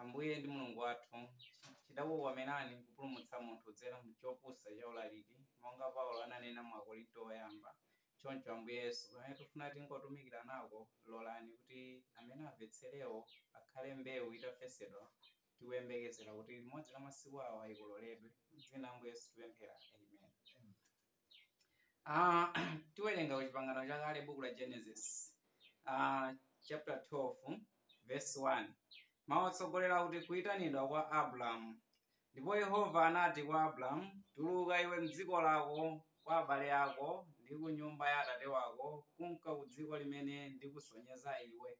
Ambuye ndi Mulungu wathu, chidakukomerani kupulumutsa munthu kudzera mu chopusa cha ulaliki, monga Paulo ananena mu Akorinto Woyamba. Choncho, Ambuye Yesu, pamene tifuna tingotumikirana nako, lolani kuti amene amvetserewo akhale mbewu itafesedwa tikuyembekezera kuti limodzi la masiku awa ikololedwe. Mu dzina la Ambuye Yesu tipemphera. Amen. Ah, tiwerenga ku chipangano chakale buku la genesis ah, chapter 12 verse 1 mawu otsogolera kuti kuyitanidwa kwa abrahamu ndipo yehova anati kwa abrahamu tuluka iwe mdziko lako kwa abale ako ndi ku nyumba ya atate wako kunka ku dziko limene ndikusonyeza iwe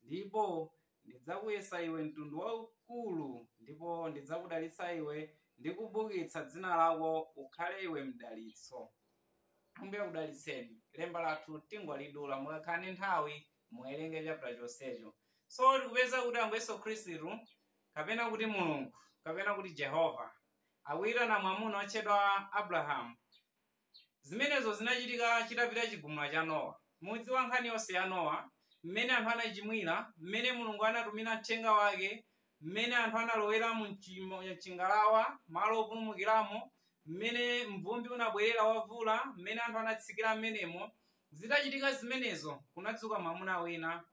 ndipo Ndidzakuyesa iwe mtundu waukulu, ndipo ndidzakudalitsa iwe ndi kubukitsa dzina lako ukhale iwe mdalitso. Ambuye akudalitseni. Lemba lathu tingolidula mukakhala ndi nthawi muwerenge chapter chonsecho. So tikupeza kuti Ambuye Yesu Khristu kapena kuti Mulungu kapena kuti Jehova akuyitana mwamuna otchedwa Abrahamu Zimenezo zinachitika chitapita Chigumula cha Nowa. Mudziwa nkhani yonse ya Nowa, mmene anthu anachimwira, mmene Mulungu anatumira mthenga wake, mmene anthu analowera mu chingalawa, malo opulumukiramo, mmene mvumbi unabwerera wa mvula, mmene anthu anatsikira mmenemo. Zitachitika zimenezo, kunadzuka mwamuna wina.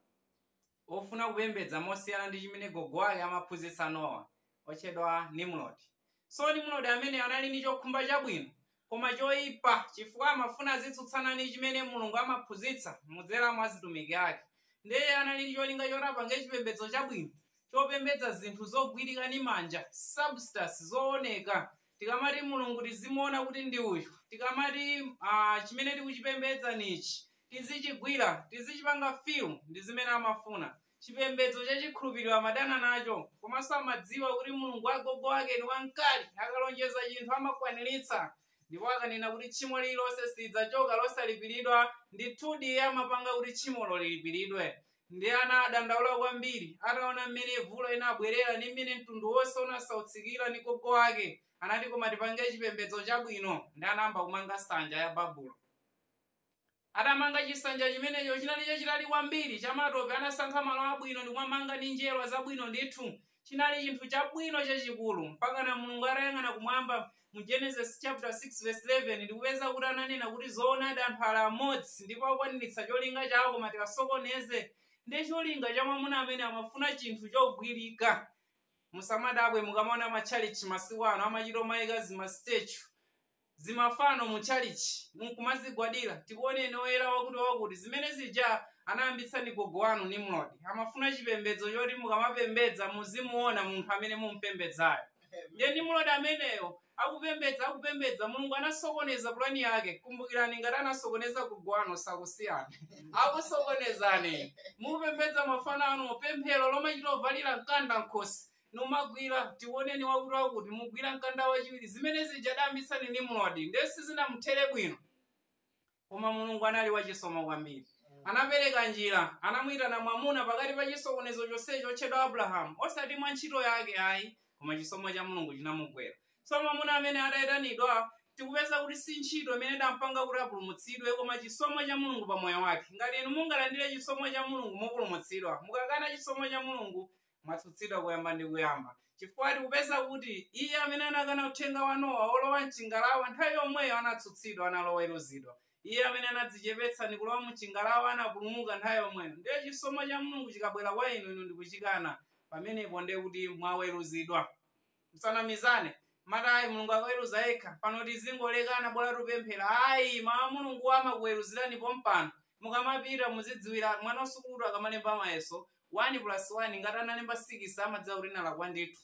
ofuna kupembedza mosiyana ndi chimene gogo wake amaphunzitsa nowa otchedwa nimrodi so nimrodi amene anali ndi chokhumba chabwino koma choyipa chifukwa amafuna azitsutsana ndi chimene mulungu amaphunzitsa mudzera mwa zitumiki ake ndiye anali ndi cholinga choti apange chipembedzo chabwino chopembedza zinthu zogwirika ndi manja substance zooneka Tikamati Mulungu tizimuona kuti ndi uyu, tikamati ah, chimene tikuchipembedza ni ichi, tizichigwira, tizichipanga feel ndi zimene amafuna. Chipembedzo cha chikhulupiriro amadana nacho, komanso amadziwa kuti Mulungu wa agogo ake ni wamkali, akalonjeza chinthu amakwaniritsa. Ndipo akanena kuti tchimo lililonse silidzachoka losalipiridwa, ndithudi iye amapanga kuti tchimolo lilipiridwe. Ndiye anadandaula kwambiri ataona mmene mvula inabwerera ndi mmene mtundu wonse unasautsikira ndi gogo wake. Anati koma tipange chipembedzo chabwino ndi anayamba kumanga nsanja ya Babulo. Atamanga chisanja chimenecho chinali chachitali kwambiri chamatope anasankha malo abwino ndikumamanga ndi njerwa zabwino ndithu. chinali chinthu chabwino chachikulu mpakana mulungu atayang'ana kumwamba mu genesis chapter 6 verse 11 ndikupeza kuti ananena kuti zoonadi anthu ali amodzi ndipo akwaniritsa cholinga chawo koma tiwasokoneze ndiye cholinga cha mwamuna amene amafuna chinthu chogwirika musamadabwe mukamaona matchalichi masiku ano amachita kumayika zimastatue zimafano mu tchalitchi mkumazigwadira tikuoneni oyera wakuti wakuti zimene zija anayambitsa ndi gogo wanu nimrodi amafuna chipembedzo choti mukamapembedza muzimuona munthu amene mumpembedzayo ndiye nimrodi ameneyo akupembedza akupembedza mulungu anasokoneza pulani yake kumbukirani ngati anasokoneza gogo wanu sakusiyana akusokonezani mupembedza mafano anu pemphero lomachita kuvalira mkanda mkhosi numagwira tiwoneni wakuti wakuti mugwira mkanda wachiwiri zimene zija adayambitsa ndi nimrodi ndiye sizinamuthere bwino koma mulungu anali wachisomo kwambiri anapereka njira anamuyitana mwamuna pakati pa chisokonezo chonsecho otchedwa abrahamu osati mwa ntchito yake ayi koma chisomo cha mulungu chinamugwera so mwamuna amene atayitanidwa tikupeza kuti si ntchito imene idampanga kuti apulumutsidwe koma chisomo cha mulungu pa moyo wake ngati inu mungalandire chisomo cha mulungu mupulumutsidwa mukakana chisomo cha mulungu mwatsutsidwa kuyamba ndi kuyamba, chifukwa tikupeza kuti iye amene anakana uthenga wa Nowa wolowa m'chingalawa nthawi yomweyo anatsutsidwa naloweruzidwa. Iye amene anadzichepetsa ndi kulowa mu chingalawa anapulumuka nthawi yomweyo. Ndiye chisomo cha Mulungu chikabwera kwa inu, inu ndi kuchikana, pamenepo ndiye kuti mwaweruzidwa. Musanamizane kumati ayi Mulungu akaweruza yekha, pano tizingoolekana bola tupemphera ayi mawu a Mulunguwo amakuweruzirani pompano mukamapita muzidziwira, mwana wasukulu akamalemba mayeso 1 plus 1 ngati analemba 6 amadziwa kuti nalakwa ndithu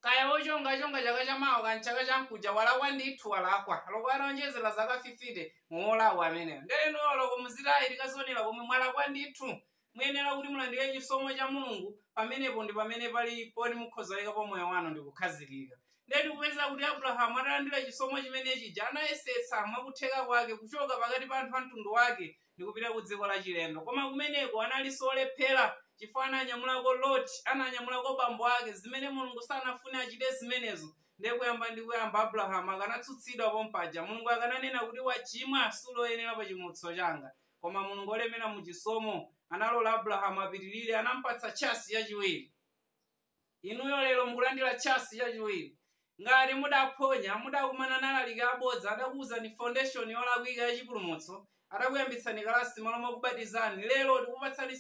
kaya wochonga achonga chaka chamawa kaya mchaka chamkuja walakwa ndithu walakwa loko ataonjezera zaka 50 muwolakwa ameneyo nde inuyo loko muziti ayi tikazionera komwe mwalakwa ndithu Muyenera kuti mulandire chisomo cha Mulungu, pamenepo ndi pamene pali poti mukhoza kuyikapo moyo wanu ndi kukhazikika. Ndiye tikupeza kuti Abrahamu atalandira chisomo chimene chija, anayesetsa mwakutheka kwake kuchoka pakati pa anthu a mtundu wake ndi kupita ku dziko lachilendo. Koma kumeneko analinso olephera chifukwa ananyamulako Loti, ananyamulako bambo ake, zimene Mulungu sanafune achite zimenezo. Ndiye kuyamba ndi kuyamba Abrahamu akanatsutsidwa pompaja. Mulungu akananena kuti, Wachimwa, suli oyenera pa chimutso changa. Koma Mulungu wolemera mu chisomo analola Abrahamu apitirire, anampatsa tchasi chachiwiri. Inuyo lero mukulandira tchasi chachiwiri. Ngati mudaphonya, mudakumana ndi alaliki abodza, adakuwuzani foundation yolakwika ya chipulumutso, adakuyambitsani kalasi malo mokubatizani, lero tikupatsani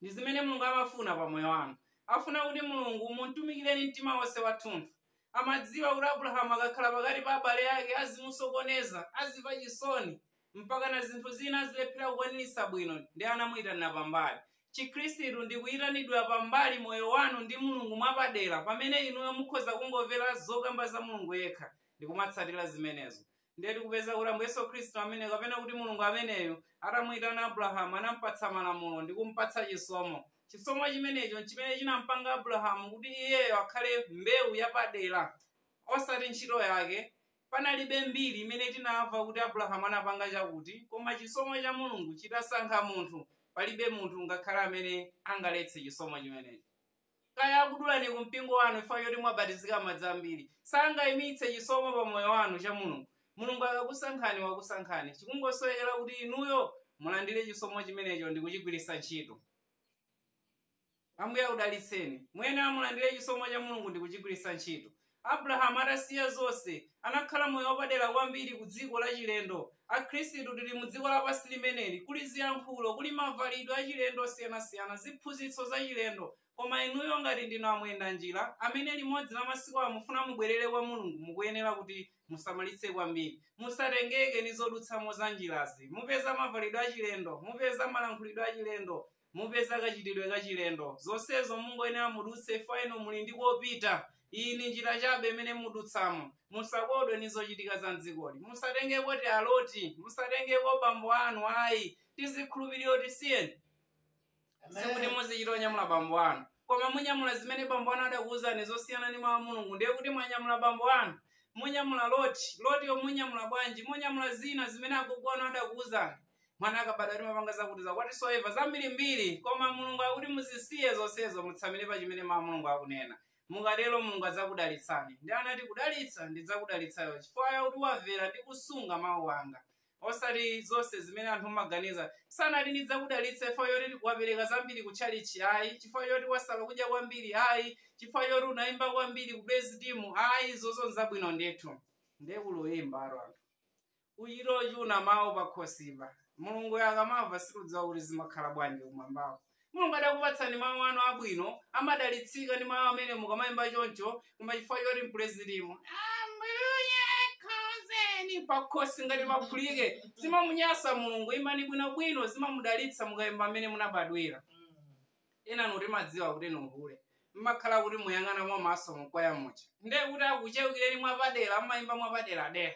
Ndi zimene Mulungu amafuna pa moyo wanu. Afuna kuti Mulungu mumtumikireni mtima wonse wathunthu. Amadziwa kuti Abulahamu akakhala pakati pa abale ake azimusokoneza, azimva chisoni, mpakana zinthu zina azilephera kukwanitsa bwino nde anamuitanira pambali. Chikhristu ndi kuitanidwa pambali moyo wanu ndi Mulungu mwapadera pamene inuyo mukhoza kungomvera zokamba za Mulungu yekha ndikumatsatira zimenezo. ndiye tikupeza kuti ambuye yesu khristu amene kapena kuti mulungu ameneyo atamuyitana abrahamu anampatsa malamulo ndi kumpatsa chisomo chisomo chimenecho nchimene chinampanga abrahamu kuti iyeyo akhale mbewu yapadera osati ntchito yake panalibe mbiri imene tinamva kuti abrahamu anapanga chakuti koma chisomo cha mulungu chitasankha munthu palibe munthu ngakhale amene angaletse chisomo chimenecho kaya akudulani ku mpingo wanu chifukwa choti mwabatizika madzi ambiri sangaimitse chisomo pa moyo wanu cha mulungu mulungu akakusankhani wakusankhani chikungosowekera kuti inuyo mulandire chisomo chimenecho ndi kuchigwiritsa ntchito ambuye akudalitseni muyenera mulandire chisomo cha mulungu ndi kuchigwiritsa ntchito Abrahamu atasiya zonse, anakhala moyo wapadera kwambiri ku dziko lachilendo. Akhristu tili mu dziko lapansi limeneli. Kuli ziyankhulo, kuli mavalidwe achilendo osiyanasiyana, ziphunzitso zachilendo. Koma inuyo ngati ndinu amwendamnjira, amene limodzi la masiku ano mufuna mubwerere kwa Mulungu, mukuyenera kuti musamalitse kwambiri. Musatengeke ndi zodutsamo za mnjirazi. Mupeza mavalidwe achilendo, mupeza malankhulidwe achilendo. Mupeza kachitidwe kachilendo. Zonsezo mungoyenera mudutse chifukwa inu muli ndi kopita. Iyi ndi njira chabe imene mudutsamo. Musakodwe ndi zochitika za m'dzikoli. Musatengeko ti aloti. Musatengeko bambo anu ayi. Tizikhulupiriro tisiyeni. Sikuti muzichita kunyamula bambo anu. Koma munyamula zimene bambo anu adakuwuzani zosiyana ndi mawu a Mulungu ndiye kuti mwanyamula bambo anu. Munyamula loti. Lotiyo munyamula bwanji? Munyamula zina zimene agogo anu adakuwuzani. mwana akabadwa timapanga zakuti zakwati whatsoever zambirimbiri koma mulungu akuti muzisiye zonsezo mutsamire pa chimene mawu a mulungu akunena mukatero mulungu adzakudalitsani ndi anati kudalitsa ndidzakudalitsayo chifukwa yakuti wamvera ndi kusunga mawu anga osati zonse zimene anthu amaganiza sanati ndidzakudalitsa chifukwa yoti wapereka zambiri ku tchalichi ayi chifukwa yoti wasala kudya kwambiri ayi chifukwa yoti unayimba kwambiri ku praise team ayi izozo nzabwino ndithu ndiye kuyimbako anthu Uchire ochuna mawu pakhosipa. Mulunguyo akamamva sitidziwa kuti zimakhala bwanji kumwambako. Mulungu adakupatsani mawu anu abwino, amadalitsika ndi mawu amene mukamaimba choncho, koma chifukwa choti mu praise team. Ambuye khozeni pakhosi ngati maphulike. Zimamunyasa Mulungu, imbani bwinobwino, zimamudalitsa mukaimba mmene munabadwira. enanu timadziwa kuti ni uhule mmakhala kuti muyang'ana mwamaso mkwaya muja ndiye kuti akuchewukireni mwapadera mmayimba mwapaderadera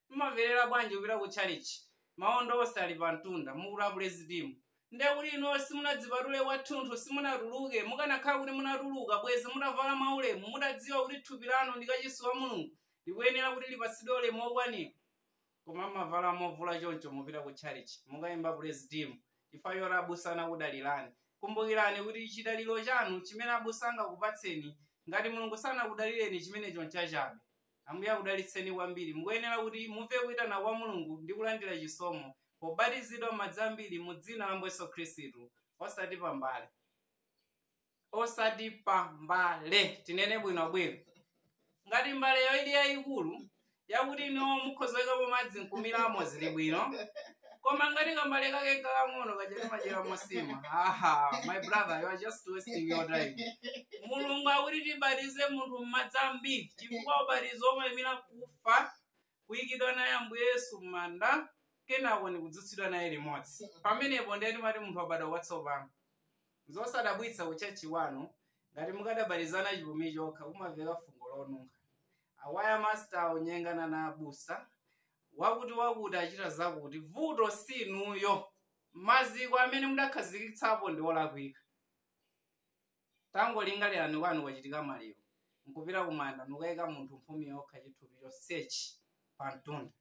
Mumamverera bwanji kupita ku tchalitchi maondo onse ali pa mtunda, mukuti a praise team? Ndiye kuti inuyo simunadzipatule kwathunthu, simunatuluke. Mukanakhala kuti munatuluka, bwezi mutavala mwaulemu, mutadziwa kuti thupi lanu ndi kachisi wa Mulungu, likuyenera kuti lipatsidwe ulemu wokwanira. Koma mumavala movula choncho mupita ku tchalitchi, mukaimba praise team chifukwa choti abusa anakudalirani. Kumbukirani kuti chidaliro chanu, chimene abusa angakupatseni, ngati Mulungu sanakudalireni, chimenecho nchachabe. Ambuye akudalitseni kwambiri. Mukuyenera kuti mumve kuitana kwa Mulungu ndi kulandira chisomo pobatizidwa m'madzi ambiri mu dzina la Ambuye Yesu Khristu, osati pambale. Osati pa mbale, tinene bwinobwino. Ngati mbaleyo ili yayikulu, yakuti inuyo mukhoza kuyikapo madzi nkumiramo, zili bwino. koma ngati kambale kake kakang'ono kachati machera mosima aha my brother you are just wasting your time mulungu akuti tibatize munthu m'madzi ambiri chifukwa ubatizo umaimira kufa kuyikidwa naye ambuye yesu m'manda kenako ndi kudzutsidwa naye limodzi pamenepo ndiye timati munthu wabadwa kwatsopano zosadabwitsa kutchalitchi wanu ngati mukadabatizana chipumi chokha kumaveka fungo lonunkha awaya masister anyengana na abusa wakuti wakuti achita zakuti vuto si inuyo maziko amene mudakhazikitsapo ndi olakwika tangolingalirani kwanu kwachitika maliro nkupita kumanda nukayika munthu mphumi yokha chithupi chonsechi pa mtunda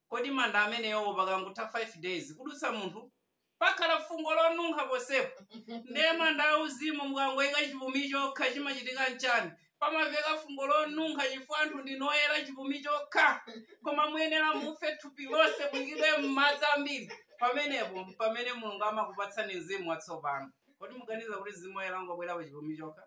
kodi manda amenewo pakangotha 5 days kudutsa munthu Pakhala fungo lonunkha ponsepo. Ndiye manda auzimu mukangoika chipumi chokha chimachitika nchani? Pamaveka fungo lonunkha chifukwa anthu ndinu oyera chipumi chokha. Koma muyenera mufe thupi lonse muikidwe mmadzi ambiri. Pamenepo mpamene Mulungu amakupatsani mzimu watsopano. Kodi muganiza kuti Mzimu Woyera ungabwere pa chipumi chokha?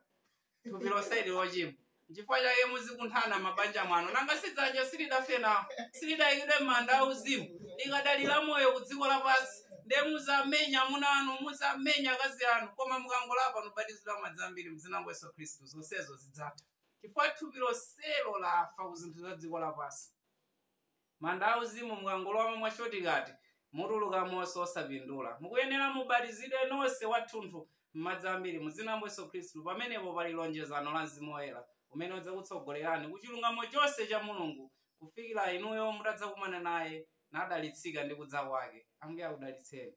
thupi lonseli lochimwa nchifukwa chake muzikunthana mabanja mwanu nanga sidzanja silidafe nawo silidayikidwe m'manda auzimu likadali la moyo ku dziko lapansi nde muzamenya amuna anu muzamenya akazi anu koma mukangolapa nubatizidwa m'madzi ambiri m'dzina la yesu khristu zonsezo zidzatha chifukwa thupi lonselo lafa ku zinthu za dziko lapansi Manda auzimu mukangolowamo mwa shortcut mutulukamonso osapindula. Mukuyenera mubatizidwe nonse wathunthu m'madzi ambiri mu dzina la Ambuye Yesu Khristu pamenepo pali lonjezano la Mzimu Woyera umene udzakutsogolerani ku chilungamo chonse cha Mulungu kufikira inuyo mutadzakumana naye nadalitsika ndi kudza kwake. Ambuye akudalitseni.